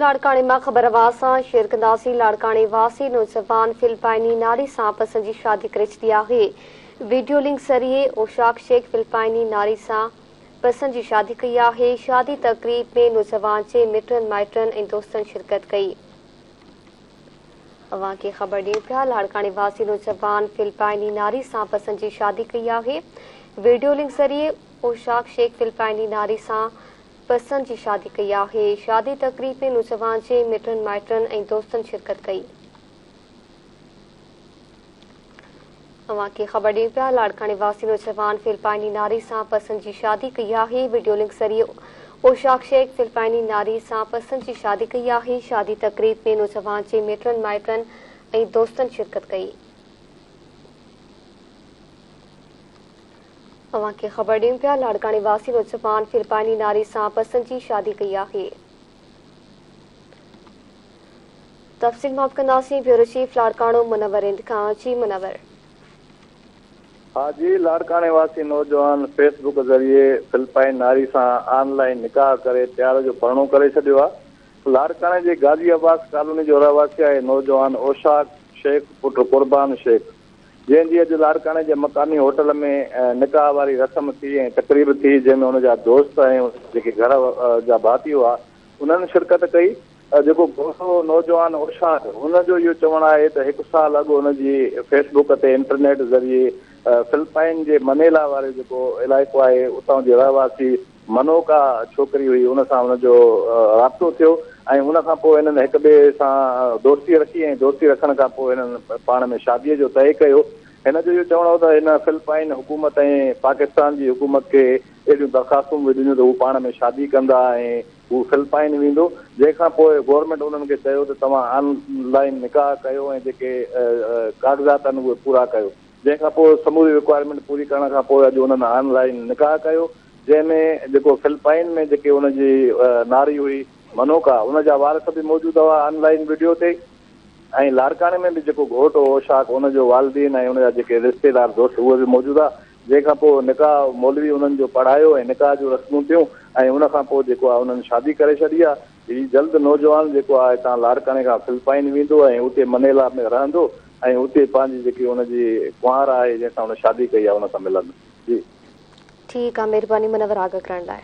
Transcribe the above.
لاڙڪاڻي مان خبر اوهان سان شيئر ڪنداسين لاڙڪاڻي واسي نوجوان فلپائني ناري سان پسنجي شادي ڪري ڇڏي آهي ويڊيو لنڪ ذريعي اوشاق شيخ فلپائني ناري سان پسنجي شادي ڪئي آهي شادي تقريب ۾ نوجوان جي مٽن مائٽن ۽ دوستن شرڪت ڪئي اوهان کي خبر ڏيون پيا لاڙڪاڻي واسي نوجوان فلپائني ناري سان پسنجي شادي ڪئي آهي ويڊيو لنڪ ذريعي اوشاق شيخ فلپائني ناري سان پسند جي شادي ڪئي آهي. شادي تقريب ۾ نوجوان جي مٽن مائٽن ۽ دوستن شرڪت ڪئي. اوهان کي خبر ڏيون پيا لاڙڪاڻي واسي نوجوان فلپائني ناري سان پسند جي شادي ڪئي آهي وڊيو لنڪ ذريعي اوشاق شيخ فلپائني ناري سان پسند جي شادي ڪئي آهي شادي تقريب ۾ نوجوان جي مٽن مائٽن ۽ دوستن شرڪت ڪئي. اوهان کي خبر ڏيون پيا لاڙڪاڻي واسين نوجوان فلپائني ناري سان پسند جي شادي ڪئي آهي. تفصيل معاف ڪنداسين بيورو چيف لاڙڪاڻو منور اند کان جي منور. ها جي لاڙڪاڻي واسين نوجوان فيس بڪ ذريعي فلپائني ناري سان آن لائين نڪاح ڪري پيار جو پرڻو ڪري ڇڏيو آ لاڙڪاڻي جي غازي عباس ڪالوني جو رهواسي آهي نوجوان اوشاق شيخ پٽ قربان شيخ. جنهن جي اڄ لاڙڪاڻي جي مقامي هوٽل ۾ نڪاح واري رسم ٿي ۽ تقريب ٿي جنهن ۾ ان جا دوست ۽ جيڪي گهر جا ڀاتي هئا انهن شرڪت ڪئي جيڪو گورو نوجوان اوشاڊ ان جو اهو چوڻ آهي ته هڪ سال اڳ ان جي فيس بڪ تي انٽرنيٽ ذريعي فلپائن جي منيلا واري جيڪو علائقو آهي اتان جي رهواسي منو ڪا ڇوڪري هئي ان سان هن جو رابطو ٿيو ۽ ان کان پوء هنن هڪ ٻئي سان دوستي رکي ۽ دوستي رکڻ کان پوء هنن پاڻ ۾ شاديء جو طئي ڪيو. هن جو اهو چوڻ هو ته هن فلپائن حڪومت ۽ پاڪستان جي حڪومت کي اهڙيون درخواستون به ڏنيون ته هو پاڻ ۾ شادي ڪندا ۽ هو فلپائن ويندو جنهن کان پوء گورنمينٽ هنن کي چيو ته توهان آن لائين نڪاح ڪيو ۽ جيڪي ڪاغذات آهن اهي پورا ڪيو جنهن کان پوء سموري رڪوائرمينٽ پوري ڪرڻ کان پوء اڄ هنن آن لائين نڪاح ڪيو. جنهن ۾ جيڪو فلپائن ۾ جيڪي ان جي ناري هئي منوڪا ان جا وارث به موجود هئا آن لائين وڊيو تي ۽ لاڙڪاڻي ۾ به جيڪو گهوٽ هو اوشاق ان جو والدين ۽ ان جا جيڪي رشتيدار دوست اهي به موجود هئا جنهن کان پوء نڪاح مولوي انهن جو پڙهايو ۽ نڪاح جون رسمون ٿيون ۽ ان کان پوء جيڪو آهي انهن شادي ڪري ڇڏي آهي هي جلد نوجوان جيڪو آهي هتان لاڙڪاڻي کان فلپائن ويندو ۽ اتي منيلا ۾ رهندو ۽ اتي پنهنجي جيڪي ان جي ڪنوار آهي جنهن سان هن شادي ڪئي آهي ان سان ملندو جي ٺيڪ آ مھرباني منور آگاھ ڪرڻ لاء.